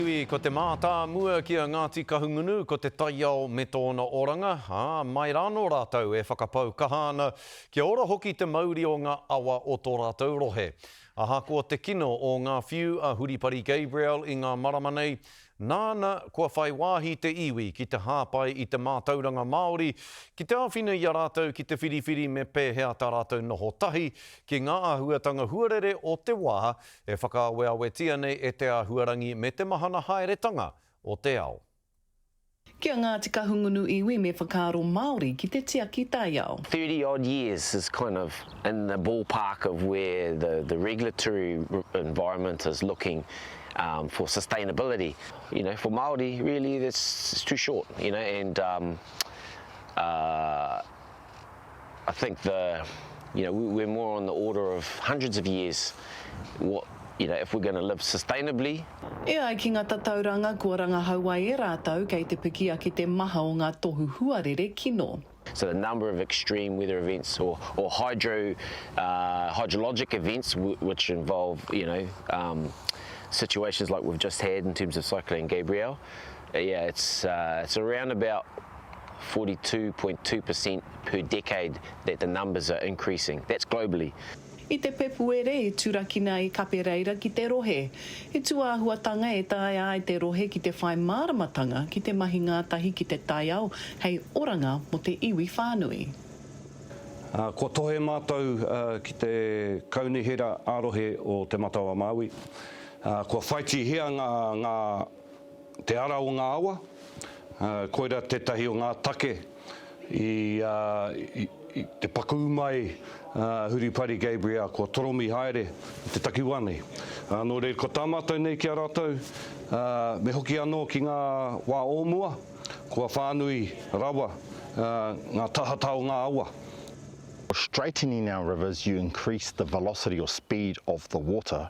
Tainui, ko te mātāmua ki a Ngāti Kahungunu ko te taiao me tōna oranga, ā, mai rānō rātou e whakapau kaha ana kia ora hoki te mauri o ngā awa o tō rātou rohe. Ahakoa te kino o ngā whiu a Huripari Gabriel i ngā marama nei, nāna kua whai wāhi te iwi ki te hāpai i te mātauranga Māori ki te āwhina i a rātou ki te whiriwhiri me pēhea tā rātou noho tahi ki ngā āhuatanga huarere o te wā E whakaaweawetia nei e te āhuarangi me te mahana haeretanga o te ao. Ki a Ngāti Kahungunu iwi me whakaaro Māori ki te tiaki taiao. Thirty odd years is kind of in the ballpark of where the the regulatory environment is looking for sustainability, you know for Māori really that's too short you know and I think the, you know, we're more on the order of hundreds of years, what, you know, if we're going to live sustainably. E ai ki ngā tatauranga kua rangahau ai e rātou kei te piki ake te maha o ngā tohu huarere kino. So the number of extreme weather events or, or hydro, uh, hydrologic events which involve, you know, um, situations like we've just had in terms of Cyclone Gabrielle, Yeah, it's uh, it's around about 42.2% per decade that the numbers are increasing. That's globally. I te Pepuere i turakina i Kape Reira ki te rohe. He tūāhuatanga e taea ai te rohe ki te whai māramatanga ki te mahi ngātahi ki te taiao hei oranga mō te iwi whānui. Kua tohe mātou ki te Kaunihera ā-Rohe o Te Matau-a-Māui. Kua whaitihia ngā. Te ara o ngā awa, koira tētahi o ngā take i te pakū mai a Huripari Gabriel kua toromi haere i te takiwā nei. Nō reira, ko tā mātou nei ki a rātou, me hoki anō ki ngā wā o mua, kua whānui rawa ngā tahata o ngā awa. Straightening our rivers, you increase the velocity or speed of the water.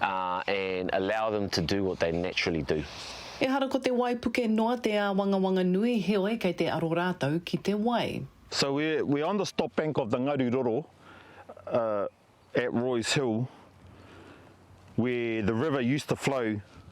and allow them to do what they naturally do. Ehara ko te waipuke noa te āwangawanga nui heoi kei te aro rātou ki te wai. So we're on the stop bank of the Ngaru Roro at Roy's Hill where the river used to flow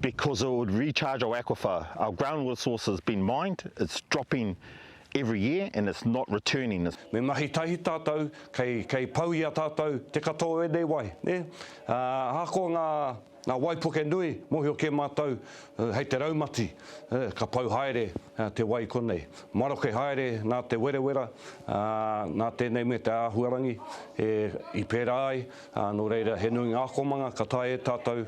because it would recharge our aquifer. Our groundwater source has been mined, it's dropping every year and it's not returning. Me mahi tahi tātou, kei, kei pau i a tātou te katoa o ēnei wai, nē? Ā, ahakoa ngā, ngā waipuke nui, mōhio kē mātou, hei te raumati, ka pau haere te wai i konei. Maroke haere nā te werewera, ā, nā tēnei me te āhuarangi e, i pērā ai, ā, nō reira he nui ngā akomanga ka taea e tātou,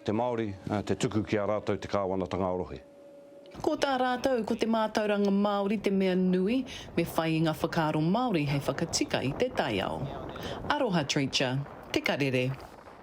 Te Māori, te tuku ki a rātou te kāwanatanga rohe. Ko tā rātou, ko te mātauranga Māori te mea nui, me whai i ngā whakaaro Māori hei whakatika i te taiao. Aroha Treacher, te karere.